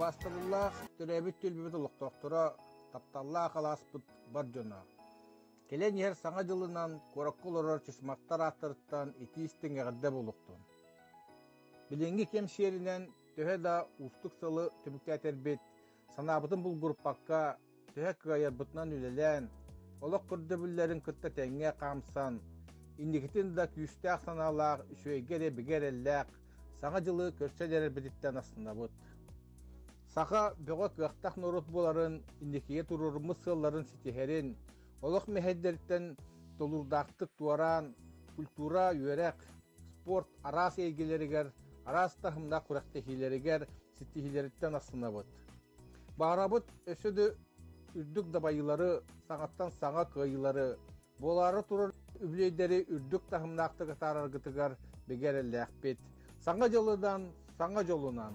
Убаастабыллаах, төрөөбүт түөлбүбүт олохтоохторо, тапталлаах алааспыт бар дьоно. Кэлэн иһэр Саҥа дьылынан куоракка олорор чысмахтар ааттарыттан итии-истиҥ эҕэрдэ буолуохтун. Билиҥҥи кэм сиэринэн төһө да уустук сылы түмүктээтэрбит, санаабытын булгуруппакка, төһө кыайарбытынан үлэлээн, олох көрдөбүллэрин кытта тэҥҥэ хаамсан, инникитин да күүстээх санаалаах, үчүгэйгэ эрэ бигэ эрэллээх Саҥа дьылы көрсө илэрбититтэн астынабыт. Саха бөҕө кыахтах норуот буоларын, инникигэ туруоруммут сыалларын ситиһэрин, олох мэһэйдэриттэн толуурдаахтык туораан, культура, үөрэх, спорт араас эйгэлэригэр, араас таһымнах күрэхтэһиилэригэр ситиһилэриттэн астынабыт. Баарабыт өсө да үрдүк дабайыылары, саҥаттан саҥа кыайыылары, буолаары турар үбүлүөйдэри үрдүк таһымнаахтык атаараргытыгар бигэ эрэллээхпит. Саҥа дьылыдан, саҥа дьолунан.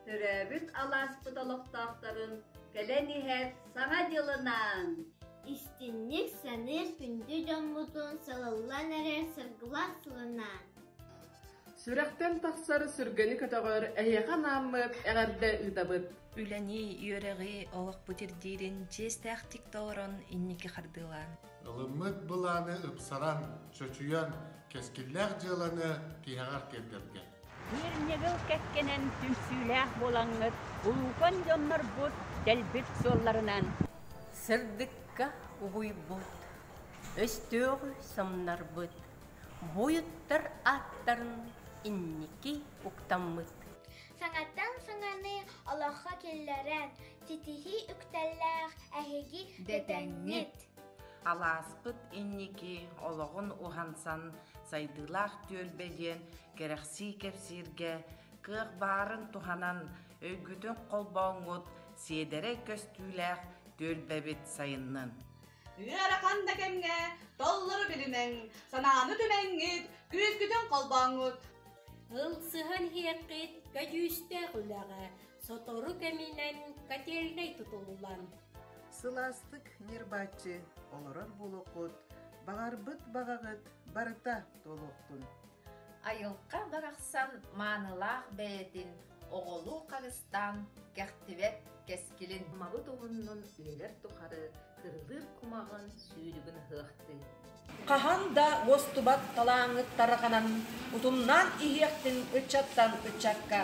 Төрөөбүт алааспыт олохтоохторун кэлэн иһэр Саҥа дьылынаан! Истиҥник саныыр күндү дьоммутун салаллан эрэр сыргылас сылынаан! Сүрэхтэн тахсар сүргэни көтөҕөр эһиэхэ анааммыт эҕэрдэ ыытабыт. Үлэни, үөрэҕи, олохпут ирдиирин чиэстээхтик толорон инники хардыылаан. ылыммыт былааны ыпсаран, чочуйан, кэскиллээх дьыаланы тиһэҕэр тиэрдэргэ. Быырньыгыл кэккэнэн түмсүүлээх буолаҥҥыт, улуукан дьоннорбут дэлбит суолларынан. Сырдыкка угуйбут, өстөөҕү самнарбыт буойуттар ааттарын инники уктаммыт. Саҥаттан саҥаны олоххо киллэрэн, ситиһии үктэллээх эһиги дэтэҥҥит! Алааспыт инники олоҕун уһансан Сайдыылаах түөлбэ диэн кэрэхсии кэпсииргэ кыах баарын туһанан өйгүтүн холбооҥҥут сиэдэрэй көстүүлээх түөлбэбит сайыннын. Ыарахан да кэмҥэ толлору билимэҥ, санааны түмэҥҥит, күүскүтүн холбооҥҥут. Ылсыһан иһиэххит көдьүүстээх үлэҕэ, Сотору кэминэн котельнай тутуллан Сылаастык ньырбааччы олорор буолуоххут, баҕарбыт баҕаҕыт барыта туолуохтун. Айылҕа барахсан маанылаах бэйэтин оҕолуу харыстаан кэхтибэт кэскилин мабыт уһуннун үйэлэр тухары кырылыыр кумаҕын сүүрүгүн ыһыахтыы. Хаһан да уостубат талааҥҥыт тарҕанан, утумнаан иһиэхтин ыччаттан ыччакка.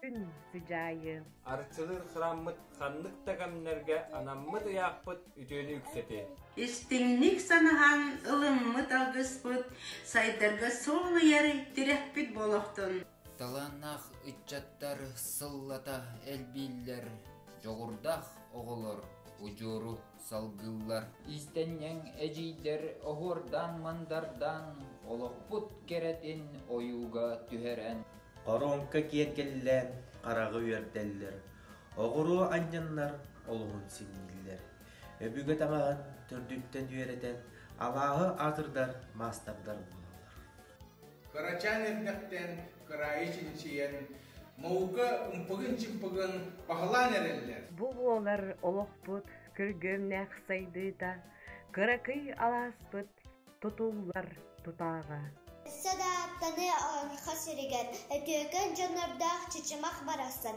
Күн сыдьаайы. Арчылыыр храммыт ханнык да кэмнэргэ анаммыт ыйаахпыт үтүөнү үксэти. Истиҥник санаһан ылыммыт алгыспыт, сайдарга солуйар тирэхпит болохтун. Талааннаах ыччаттар сыллата элбииллэр, дьоҕурдаах оҕолор удьуору салгыллар. Иистэнньэҥ эдьиийдэр оһуордаан-мандардаан олохпут кэрэтин ойууга түһэрэн. Хоруоҥка киэргэллээн хараҕы үөрдэллэр, оҕуруо анньыннар олуһун синньиллэр. Өбүгэ таҥаҕын төрдүттэн үөрэтэн, алааһы атырдар маастардар буолаллар. Кырачаан эрдэхтэн кыраайы чинчийэн, маука умпугун-чымпыгын баһылаан эрэллэр. Бу буолар олохпут күргүөмнээх сайдыыта, кыракый алааспыт тутуллар тутааҕа. Өссө да аттаны Саха сиригэр, Өтөкөн дьоннордоох Чычымах барахсан